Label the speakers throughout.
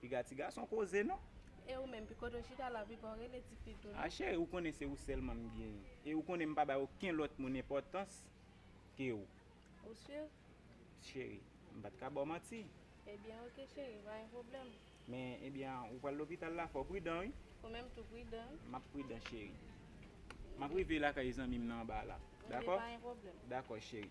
Speaker 1: Piga ti gason
Speaker 2: koze non. E ou menm, piko to
Speaker 1: chita la, piko rele ti fi tou non. A cheri ou konnen se ou
Speaker 2: sèlman m genyen. E ou konnen m pa bay oken lòt moun enpòtans ke ou. Ou sur?
Speaker 1: Cheri,
Speaker 2: m pa t ka ba w manti. Ebyen ok
Speaker 1: cheri, pa gen pwoblèm. Men, ebyen an,
Speaker 2: ou pral lopital la, fò w pridan wi. Ou menm tou pridan.
Speaker 1: M ap pridan cheri.
Speaker 2: M ap rive lakay zanmi m nan anba la. Dako? Ok, pa gen pwoblèm. Dako
Speaker 1: cheri.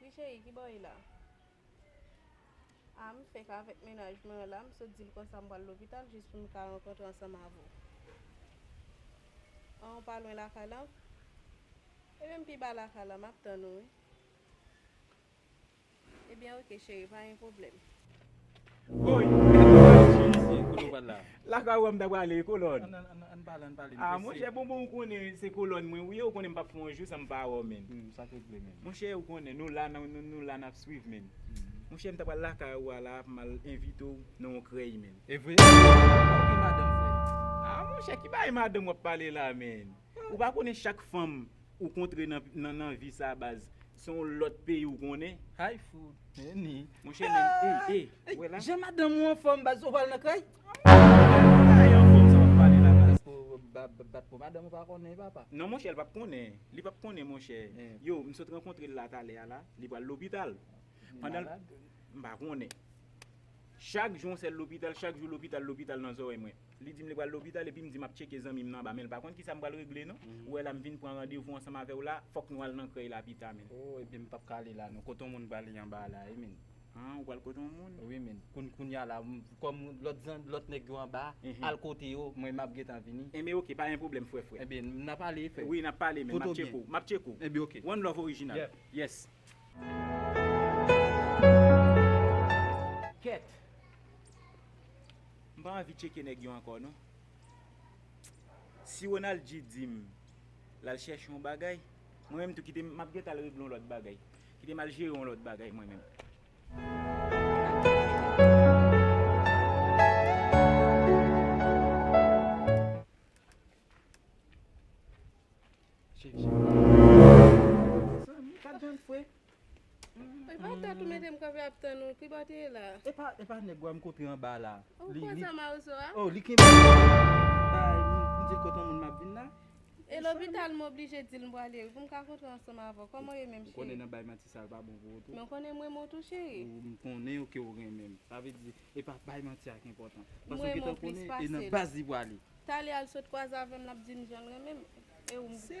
Speaker 1: Wi cheri ki bò ye la? Ah m fèk avèk mennaj mwen an la m sot dil konsa m pral lopital jis pou m ka rankontre ansanm avè w Ah ou pa lwen lakay la Ebyen m pi ba lakay la map tann ou wi Ebyen ok cheri pa gen pwoblèm.
Speaker 2: Woy Jezi kote ou pral la. Lakay ou a m ta prale kolòn. Ann pale ann pale m prese. Ah monchè bonbon ou konnen se kolòn mwen ou ye ou konnen m pap fè yon jou san m pa wè w menn. Humm sak regle menn.
Speaker 3: Monchè ou konnen nou la
Speaker 2: nou la nap swiv menn. Monchè m ta pral lakay ou a la pou m al envite w nan yon krèy menn. Evre? Ou
Speaker 3: gen madanm vre? Ah monchè ki bagay
Speaker 2: madanm wap pale la menn. Ou pa konnen chak fanm ou kontre nan vi sa baz se yon lòt peyi ou konnen. Hi food
Speaker 3: Neni. Monchè men ey ey
Speaker 2: ou wè la. Jan madanm ou
Speaker 3: anfòm baz ou pral nan kay. Kay anfòm sa wap pale la baz. Bat pou madanm ou pa konnen papa. Non monchè li pap konnen
Speaker 2: li pap konnen monchè yow m sot rankontre l la talè a la li pral lopital pandan l m pa konnen chak jou yon sèl lopital chak jou lopital lopital nan zòrèy mwen. Li di m li pral lopital epi m di m ap tcheke zanmi m nan anba men l pa konn kisa m pral regle non ou wè la m vin pran randevou ansanm avè w la fòk nou al nan krèy la pita min. Oh epi m pap ka ale
Speaker 3: la non kote yon moun prale anba a la wi min. Han ou pral kote
Speaker 2: yon moun? Wi min kounn kounya
Speaker 3: la m kòm lòt zanmi lòt nèg yo anba al kote yo mwen map gentan vini. Enben ok pa gen pwoblèm
Speaker 2: frè frè. Enben n ap ale
Speaker 3: frè. Wi n ap pale min m ap tcheke
Speaker 2: w m ap tcheke w. Enben ok. One love original.
Speaker 3: Yeah.
Speaker 2: Yes. Kèt. M pa anvi tcheke nèg yo ankò non. Si Ronaldji di m l al chèche yon bagay, mwen menm tou kite m ap gentan al regle yon lòt bagay. Kite m al jere yon lòt bagay mwen menm.
Speaker 3: Epa
Speaker 1: tat ou metem kanpe ap tann ou kibo te ye la. Epa epa nèg wam
Speaker 3: kote anba la. Ou pran sa marozo
Speaker 1: a. Oh li kenbe bagay
Speaker 3: m dil kote yon moun map vin la. E lopital
Speaker 1: m oblije dil m prale wi poum ka kontre ansanm avèw kòman ou ye menm cheri. Ou konnen nan bay manti sa pa
Speaker 3: bon pou ou tou. Men ou konnen m renmen w tou cheri.
Speaker 1: Ou m konnen ke
Speaker 3: ou renmen m. Sa vle di epa bay manti a ki enpòtan. Paske ou gentan konnen e
Speaker 1: nan baz
Speaker 3: li prale. Talè al sot kwaze
Speaker 1: avèm lap dim janl renmen m. Se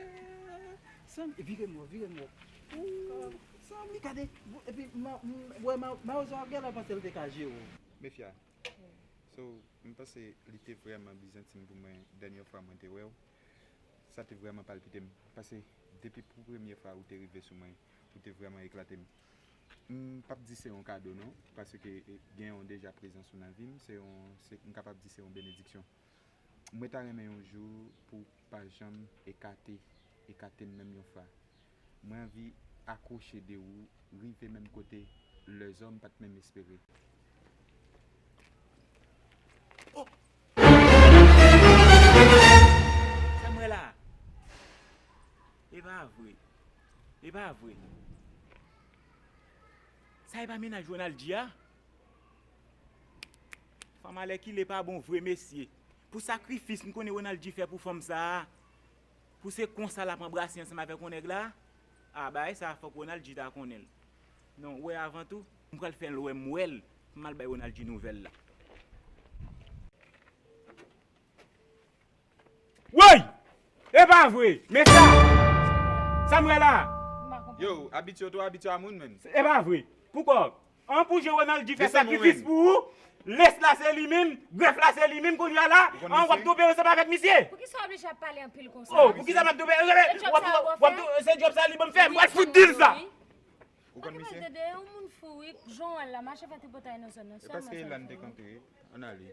Speaker 3: Sam e vire mwen vire mwen ooh Sam li gade epi wè mawozo ap genlè panse li te ka jere w. Mefia
Speaker 4: So m panse li te vrèman bizantin pou mwen dènyè fwa mwen te wèw sa te vrèman palpite m pase depi pou premye fwa ou te rive sou mwen ou te vrèman eklate m m pap di se yon kado non paske gen yon deja prezans ou nan vi m se yon m kapab di se yon benediksyon. Mwen ta renmen yon jou pou w pa janm ekate ekate m menm yon fra. Mwen anvi akwoche de ou rive menm kote lèzòm pat menm espere.
Speaker 2: Sa m wè la a? E pa vre? E pa vre? Sa e pa mennaj Ronaldy a? Fanm alèkile pa bon vre mesye. Pou sakrifis m konnen Ronald G fè pou fanm sa a, pou se konsa l ap anbrase ansanm avèk yon nèg la, a bagay sa a fòk Ronald G ta konnen l. Non, ou wè avan tou, m pral fè l wè m wè l, m al bay Ronald G nouvèl la. Woy! Epa vre! Men sa! Sa m wè la a? Yo, abit
Speaker 4: yo two abitye a moun menn. Epa vre! Pou
Speaker 2: kò w. An pou je Ronald G fè sakrifis pou ou, les la se li minm, gref la se li minm kounya la, an w ap twope ansanm avèk misye? Poukisa w oblije ap pale
Speaker 5: anpil konsa? Oh, poukisa m ap twope ansanm
Speaker 2: avèk misye? W ap twope, se djòb sa a li ban m
Speaker 5: fè,
Speaker 2: m pral fout di l sa! Ou konn
Speaker 4: misye?
Speaker 5: Manke pale, yon moun fou wi, jan w wè l la, mache fè tripotay nan zòn nan,
Speaker 4: sèlman sa l fè.